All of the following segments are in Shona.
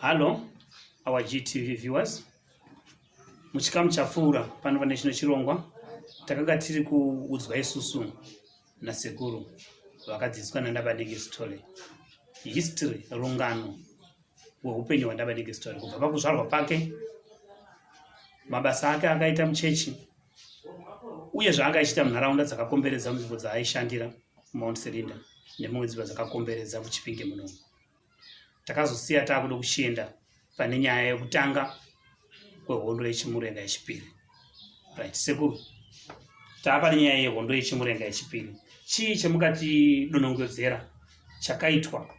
Hello, our GTV viewers. Muchikamu chapfuura pano pane chino chirongwa takanga tiri kuudzwa isusu nasekuru vakadzidziswa nandabanenge story history rungano hweupenyu hwandabanenge story kubva pakuzvarwa pake mabasa ake akaita muchechi uye zvaanga achiita munharaunda dzakakomberedza munzvimbo dzaaishandira mount selinda nemumwe dzimba dzakakomberedza muchipinge muno takazosiya taakuda kuchienda pane nyaya yekutanga kwehondo yechimurenga yechipiri right sekuru taapane nyaya yehondo yechimurenga yechipiri chii chemukatidonongodzera chakaitwa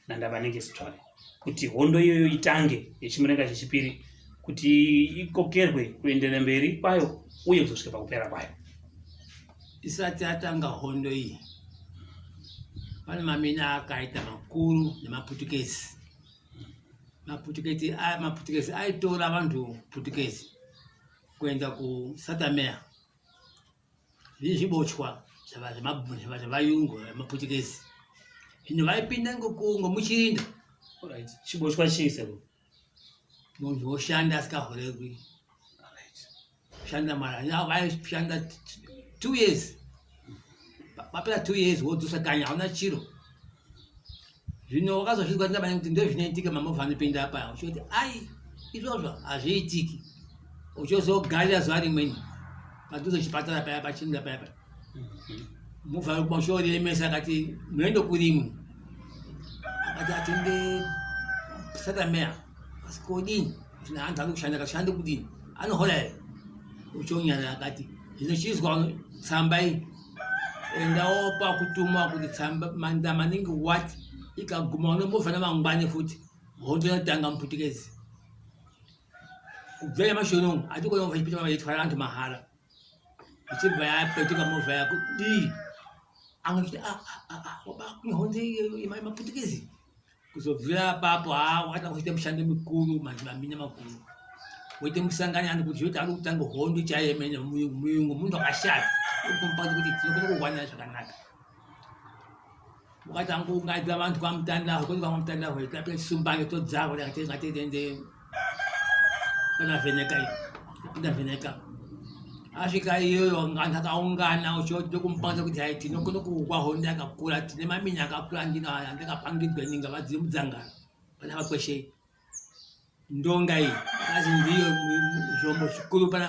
naNdavanenge Sithole kuti hondo iyoyo itange yechimurenga chechipiri kuti ikokerwe kuendera mberi kwayo uye kuzosvika pakupera kwayo isati atanga hondo iyi pane mamina akaita makuru nemaputukezi maputukezi aya maputukezi aitora vanhu putukezi kuenda kusatamea Izvi zvibochwa zvevayungu vemaputukezi zvino vaipinda ngomuchirinda chibochwa chii seko munhu woshanda asikahoregwi shanda mara vaishanda two years vapera two years wodzosa kanya hauna chiro zvino wakazozvinzwa kuti ndabanya kuti ndozvinoitika mamovha anopinda apa uchoti ai izvozvo hazviitiki uchozogarira zuva rimweni padhuze chipatara paya pachinda paya paya movha yokuba uchioremesa akati munoenda kurimwe akati atende satameya asi kodini zvino hanzi ari kushanda akashanda kudini anohora here uchonyana akati zvino chizwa tsamba iyi endawo pakutumwa kuti tsamba manda maningi what ikaguma unombova namangwani futi hondo yatanga muputikezi kubvira nyamashi unomu hatikona kuva chipita vaitwara vantu mahara ichibva yapetuka movha yako dii angachiti ah, ah, ah, wabakune hondo yemaputikezi kuzobvira apapo haa wakati akuzoita mushando mikuru maminya makuru woite musangani ani kuti zvoti ari kutanga hondo chaiye mene muyungu muyungu munhu akashata okumupati kuti tinokona kuwanira zvakanaka wakati angoungaidza vanhu kwamutandahwe koti kwamutandahwe tapesumbange todzavo takatengate tende ndavheneka iyo ndavheneka asvika iyoyo anhu akaungana uchioti kumupanza kuti hai tinokona kuukwa honde akakura tine mamini akakura andino aya andakapangidzwa ninga vadziri mudzangano pana vakweshei ndonga iyi azi ndiyo zvombo zvikuru pana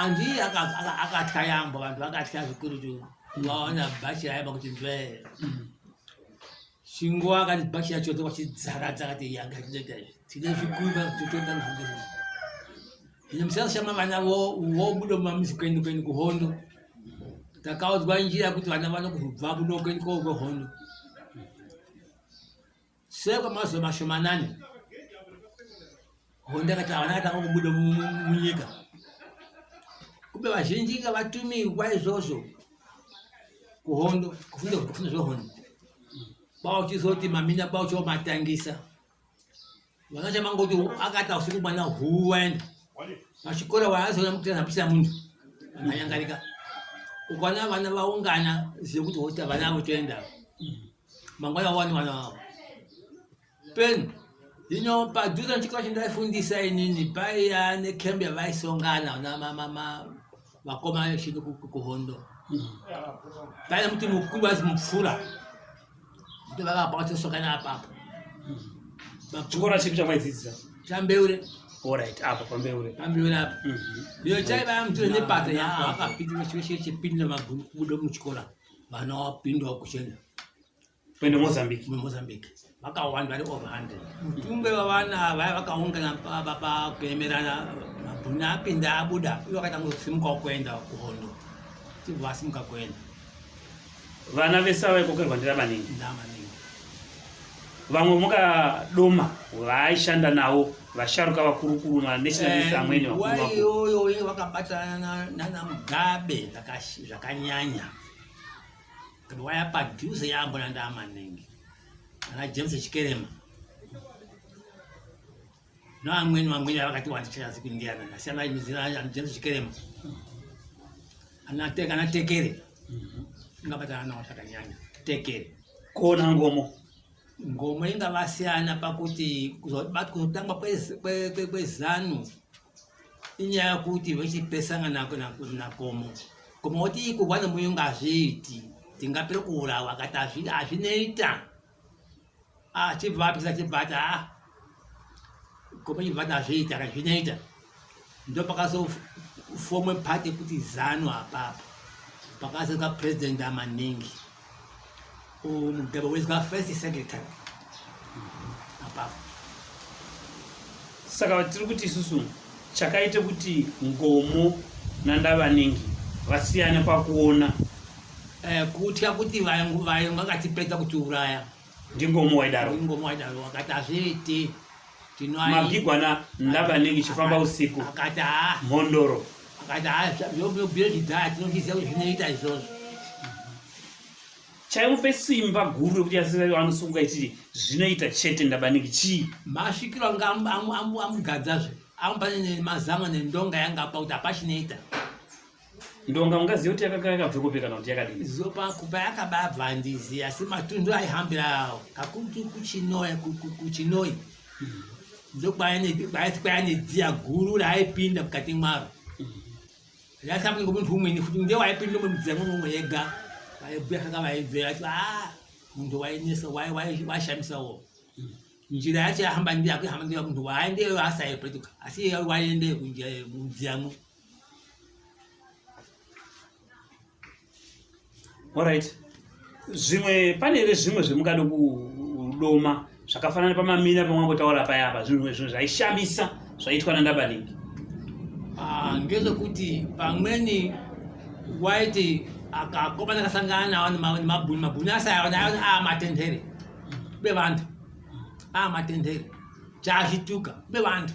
Andy akatya yambo vanhu vakatya zvikurutu vaona bhachi raiva kuti ndwee chingo akati bhachi yacho dzoka chidzaradza akati yanga chinoita izvi tine zvikuiva totoenda nzvimbo izvi ine musiyana shama vana vobuda mumamizi kwenyu kwenyu kuhondo takaudzwa njira kuti vana vanokubva kuno kwenyu koo kwehondo Sure kwamazuva mashomanani hondo yakatanga yakatanga kubuda mu- mu- mu- munyika kumbe vazhinji inga vatumirwa izvozvo kuhondo kufunda kufunda zvehondo bauchizoti mamina baucho matangisa Vakaita mangoti akati hausiku mwana huu waenda pachikora waazoona mukutira hapisa munhu anyangarika ukaona vana vaungana zive kuti hota vana avo toenda mangwana wani vana vavo peni ino padhuze nechikora chendaifundisa inini paiya nekembe yavaisongana na mama vakoma vechidi kuhondo kana kuti mukuru vazi mupfura kuti vakapa vatosokana apapo chikora chipi chamaidzidzisa chambeure orit apa pambeure pambeure apa iyo chaiva mutiro nepata yaakapinda chipinda maguru kubuda muchikora vana wapindawo kuchena kuenda mozambique mozambique vakawanda vari over 100 mutumbe vavana vaya vakaungana paba pakuemerana mabhuna apinda abuda uye vakaita kusimuka kuenda kuhondo tibva vasimuka kuenda vana vese vavaikokerwa ndira maningi nda maningi vamwe mukadoma vaaishanda navo vasharuka vakurukuru manationalist eh, amweni vakuiyoyo vakabatana nana mugabe zvakanyanya Kana waya padhuze yambo nanda maningi. Kana James Chikerema. No amweni vamweni vakati wati chaya siku Indiana. Asi ana mizira ya James Chikerema. Ana teka ana tekere. Mhm. Inga bata ana wataka nyanya. Tekere. Kona ngomo. Ngomo inga vasiana pakuti kuzotangwa kwe kwe kwe zanu. inyaya kuti vechipesana nako nakomo koma woti iko vane muyo ngazviiti tingapere kuurawa kati azvinoita achibva ah, apisa achibva ati a ah, koma chibva ati azviita kati zvinoita ndopakazofomwe pati kuti zanu apapo pakazoka president amaningi umudheba wezwa first second time apapo saka tiri kuti isusu chakaita kuti ngomo nandavanengi vasiyane pakuona eh, kutya kuti vayo vakatipedza kutiuraya ndingomu waidaro ndingomu waidaro wakati hazviite mabigwana ndakanenge chifamba usiku akati haa mhondoro akati haa yobhiro chidhaya tinozviziva kuti zvinoita izvozvo chaimupe simba guru rekuti yasirari anosunga ichiti zvinoita chete ndabaniki chii masvikiro anga amugadzazve amupa nemazamu nendonga yanga apa kuti hapachinoita ndonga ungaziva kuti yakanga yakabve kupi kana kuti yakadini zopa kupa yakababva handizi asi matundu aihambira awo kakuti kuchinoi kuchinoi mm-hmm. ndokwayati kwayane dziya guru raaipinda mukati mwaro mm-hmm. yasapinda ngomunhu umweni futi nde waipinda mudziya mumwe yega vaibhuya kanga vaibvira ati a ah, munhu wainesa waishamisa wo mm. njira yacho yahamba ndiyo akuihamba ndiyo munhu waaendeyo asaipetuka asi iye waiendeyo kunjira mudziyamwo Alright. Zvimwe pane here zvimwe zvemukada kudoma zvakafanana pamamina pamwangotaura paya apa zvinhu zvinhu zvaishamisa zvaitwa nandabaningi ah, ngezvekuti pamweni waiti akakomana akasangana nawo nemabhuni mabhuni asayona aa matendere bevantu aa matendere chazvituka bevantu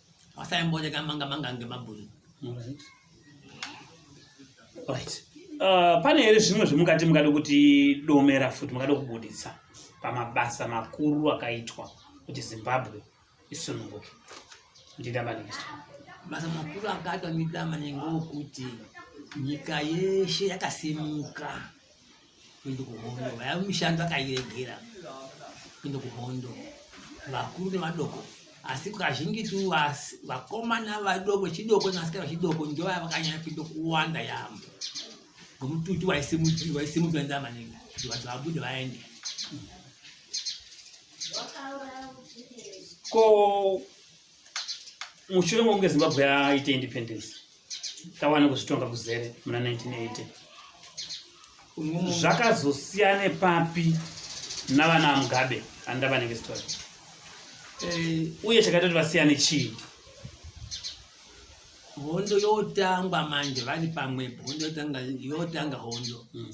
Wasaimbodeka manga manga ngemabhunu. Alright. Alright. Uh, pane here zvimwe zvemukati mukada kuti domera futi mukada kubuditsa pamabasa makuru akaitwa kuti zimbabwe isununguke ndidambanikisa basa makuru akaitwa ndidambaningokuti nyika yeshe yakasimuka kuenda kuhondo vaya mishando akairegera kuenda kuhondo vakuru nevadoko asi kazhinjitu vakomana vadoko chidoko nevasikana vachidoko ndo vaya vakanyanya kuenda kuwanda yaambo ngomututu waisimudzirwa waisimudzirwa ndaa maningi kuti vanhu vabude vaende ko mushure mokunge zimbabwe yaite independence tawana kuzvitonga kuzere muna 1980 zvakazosiyane papi navana vamugabe andava nenge story eh, uye chakaita kuti vasiyane chii hondo yotangwa manje vari pamwepo hondo yotanga hondo mm.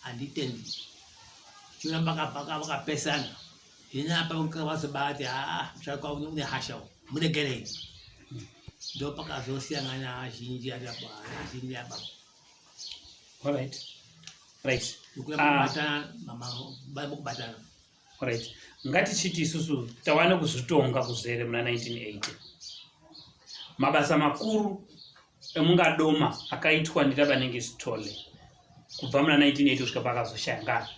handitendi chona vakapesana ini apa vazobati haa ah, musharuka une hasha u muregerei ndo pakazosiyangana azhinji ariapo azhinji apa right right kubatana mama kubatana right ngatichiti isusu tava nekuzvitonga kuzere muna 1980 mabasa makuru emungadoma akaitwa nditabanenge sitole kubva muna 1980 kusvika paakazoshaya ngari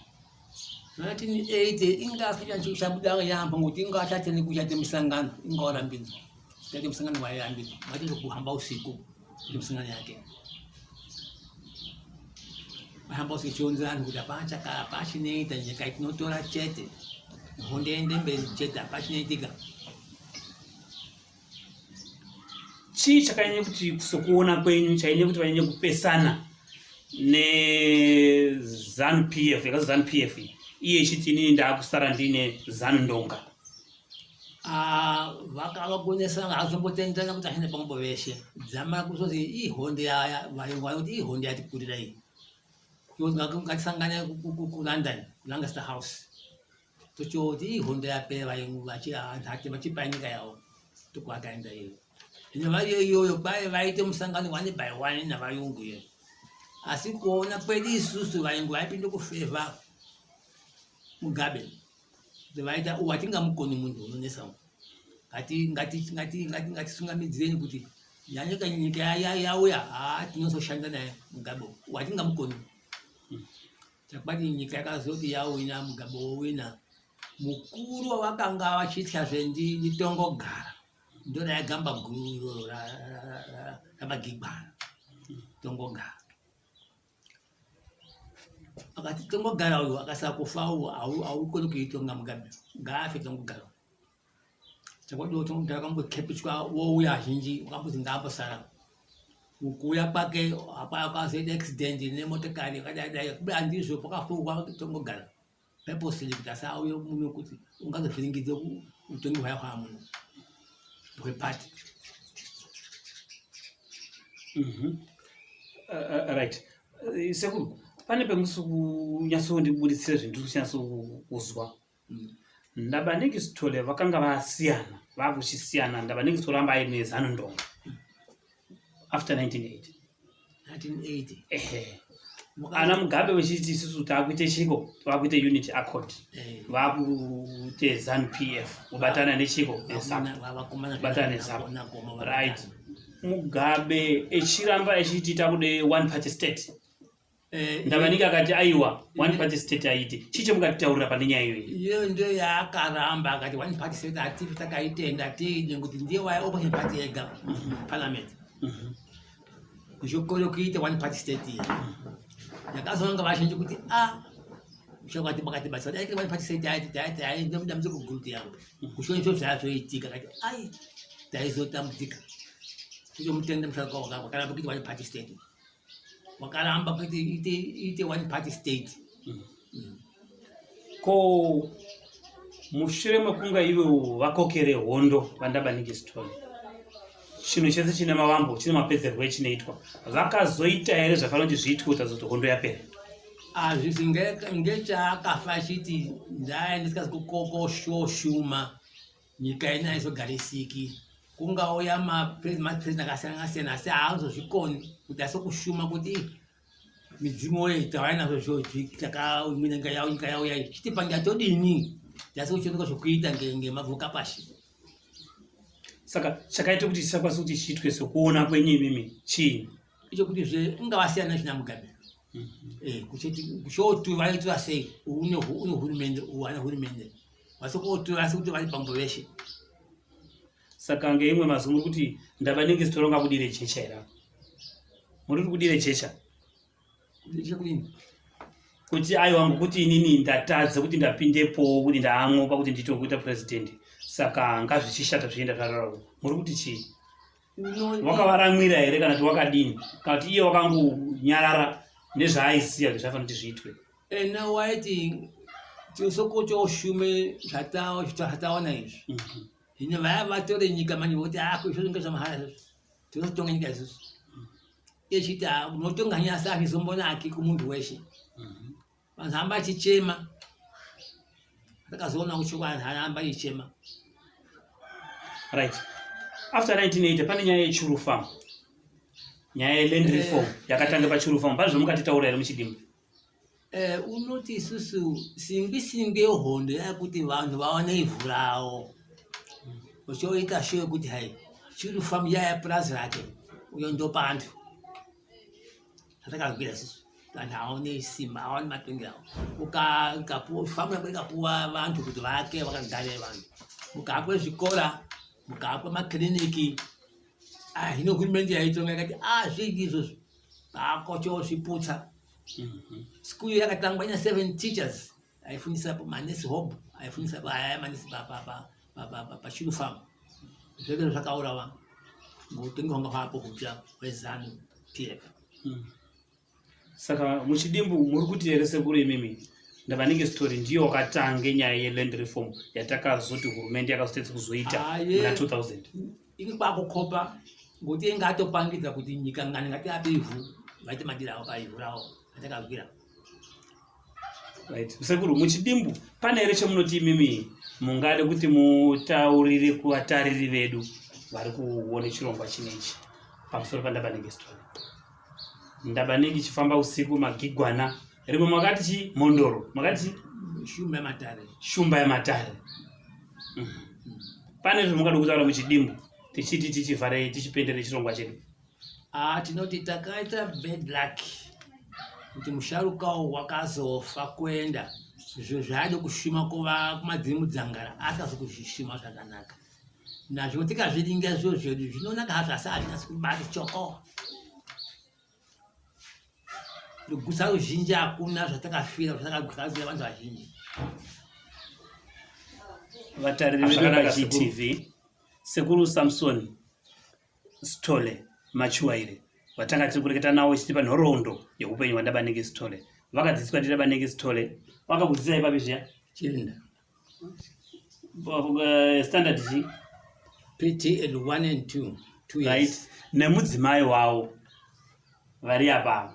1980 inga asichabuda yambo ngokuti inga achatene kuchate musangano inga warambidzwa chate musangano wayarambidzwa mati zvokuhamba usiku ndimusingana yake hamba usichionzera vanhu kuti hapana chaka hapana chinoita nyika itinotora chete hondo ende mberi chete hapana chinoitika chii chakanyanya kuti sokuona kwenyu chainyanya kuti vanyanya kupesana nezanu p f yakazi zanu p f iye ichiti inini ndaakusara ndiine zanu ndonga Ah, vakavagonesa havazombotenderana kuti ashande pamwepo veshe dzamara kuzoti ihondi yaya vayungu vane kuti ihondi yatikurira iyi ngatisangane kulondon kulancaster house tochoti ihondo yapera vayungu vachihanhake vachipai nyika yavo tokuakaenda iyo ino variyo iyoyo kwaye vaite musangano one by one navayungu iyo asi kuona kwedu isusu vayungu vaipinde kufevha mugabe vaita uwo hatingamukoni munhu unonesa uwo ngatisungamidzireni kuti yanyika nyika yauya haa tinozoshanda naye mugabe uwo hatingamukoni chakubati nyika yakazoti yawina mugabe wowina mukuru wavakanga vachitya zvendi nditongogara ndona yagamba guru iroro ramagigwana tongogara akati tongogara uyu akasara kufa uwo haukoni kuitonga mugabe ngaafe tongogara chakodiwo tongogara kambokepichwa wouya zhinji wakambozi ngaambosara kuuya kwake hapana kwazoita accident nemotokari yakadai dai kuba andizvo pakafurwa tongogara purposely kuti asauye muno kuti ungazovhiringidze utongi hwaya hwaa muno hwepati mhm. uh, uh, right uh, sekuru pane pemusi kunyatsondibuditsira zvinhu ndiri kuchinyatsokuzwa mm. ndaba nekisitole vakanga vasiyana vakuchisiyana ndaba nekisitole amba aine zanondonga after 1980 1980 ehe ana mugabe vechiti isusu taakuite chiko taakuite unit accord eh. vakuite zanu p f kubatana nechiko nesakubatana nesaku right mugabe echiramba echiti takude one party state Eh, ndavanike akati aiwa one party state aiti chii chemukatitaurira pane nyaya iyoyi iyo ndiyo yaakaramba akati one party state atifi takaitenda tiine kuti ndiye waya opposition party yega parliament Mhm. kuchokoro kuita one party state iyi ndakazonanga vazhinji kuti a shakati bakati basa dai kiri one party state aiti taiti ai ndamudamudze kuguruti yangu kushoni zvo zvaazoitika kati ai taizotambudzika tichomutenda musharukwa wakaramba kuita one party state wakaramba kuti ite ite one party state mm. ko mushure mekunga ivo vakokere hondo vandabanike story chinhu chese chine mavambo chine mapedzerwo echinoitwa vakazoita here zvafanira kuti zviitwe kuti azoti hondo yapera azvizi ngechaakafa achiti ndaendisikazi kukokoshwo shuma Nyika ino haizogarisiki. Kungauya mapresident akasiyana siyana asi haazozvikoni kuti asokushuma kuti midzimu woye tauya nazvo zvozvi takaumina nyika yavo nyika yavo yayi chiti panja todini tasi kuchioneka zvokuita ngemabvuka pashi saka chakaita kuti chisakwanisa kuti chiitwe sokuona kwenyu imimi chii icho kuti zve ungavasiyana zvina mugabe mhm. eh, kuchoti vaitwa sei une hurumende uana hurumende vasokoto asi kuti vari pambo veshe saka ngeimwe mazuva muri kuti ndavanenge zitoronga kudire jecha ira muri kuti kudire jecha kuti aiwa ngokuti inini ndatadza kuti ndapindepo kuti ndaamwopa kuti nditokuita purezidhendi saka ngazvichishata zvienda zvararau muri kuti chii wakavaramwira here kana kuti wakadini kana kuti iye wakangonyarara nezvaaisiya kuti zvaifanira kuti zviitwe ena eh, waiti tisokocha ushume zvatawa zvataona izvi mhm. zvino vaya vatore nyika manje voti ako ah, izvo zvinge zvamahara izvozvo tinotonga nyika izvozvo mhm. echiti ah, unotonga nyasa azvizombonaki kumunhu weshe mhm. Vanhu hamba achichema. Ndakazoona kuti vanhu hamba achichema. Right. After 1980 pane nyaya yechuru farm. Nyaya yeland eh. reform yakatanga pachuru farm. Pane zvamukatitaura here muchidimbu? Eh, unoti isusu singwi singwi yehondo yakuti vanhu vaone ivhu rawo uchoita sure kuti hai chiri famu yaya purazi rake uyo ndopandu atakagwira sisi vanhu haone simba haone matongi avo ukafamu yako ikapuwa vantu kuti vake vakagare vanhu mukahakwe zvikora mukahakwe makiriniki ah, hino hurumende yaitonga yakati a ah, zvingi izvozvo vakochozviputsa mhm. school yakatangwa ina seven teachers aifundisa manesi hob aifundisa aya manesi pashuru farm zvekero zvakaurawa ngokutengi hwanga hwapo hupya hwezanu pf hmm. saka muchidimbu muri kuti here sekuru imimi ndavanenge story ndiyo wakatange nyaya yeland reform yatakazoti hurumende yakazotedza kuzoita muna 2000 ini kwakukopa ngokuti inga atopangidza kuti nyika ngani ngatiape ivhu vaite madira awo paivhu rawo atakavira right sekuru muchidimbu pane here chemunoti imimi mungade kuti mutaurire kuvatariri vedu vari kuone chirongwa chinechi pamusoro pandabanenge story ndabanenge chifamba usiku magigwana rimwe makati chi mhondoro makati chi shumba yematare shumba yematare mm. pane zvimungade kutaura muchidimbu tichiti tichivhare tichipendere chirongwa chedu Ah, tinoti takaita bad luck kuti musharukawo wakazofa kuenda izvo zvaida kushuma kuva kumadziri mudzangara asikazi kuzvishuma zvakanaka nazvo tikazviringa zviro zvedu zvinonaka hazvo asi hazvinasi kubati choko rugusa ruzhinji hakuna zvatakafira zvatakagwazira vanhu vazhinji vatariri vedu vagtv sekuru samsoni Sithole Matshiwaire vatanga tiri kureketa nawo ichitipa nhoroondo yeupenyu hwaNdabanenge Sithole. Vakadzidziswa ndiNdabanenge Sithole. Wakakudzidzisai papi zviya? Chirinda. Eh, standard chii? PTL 1 and 2. Two years. Right. Nemudzimai wawo vari apa.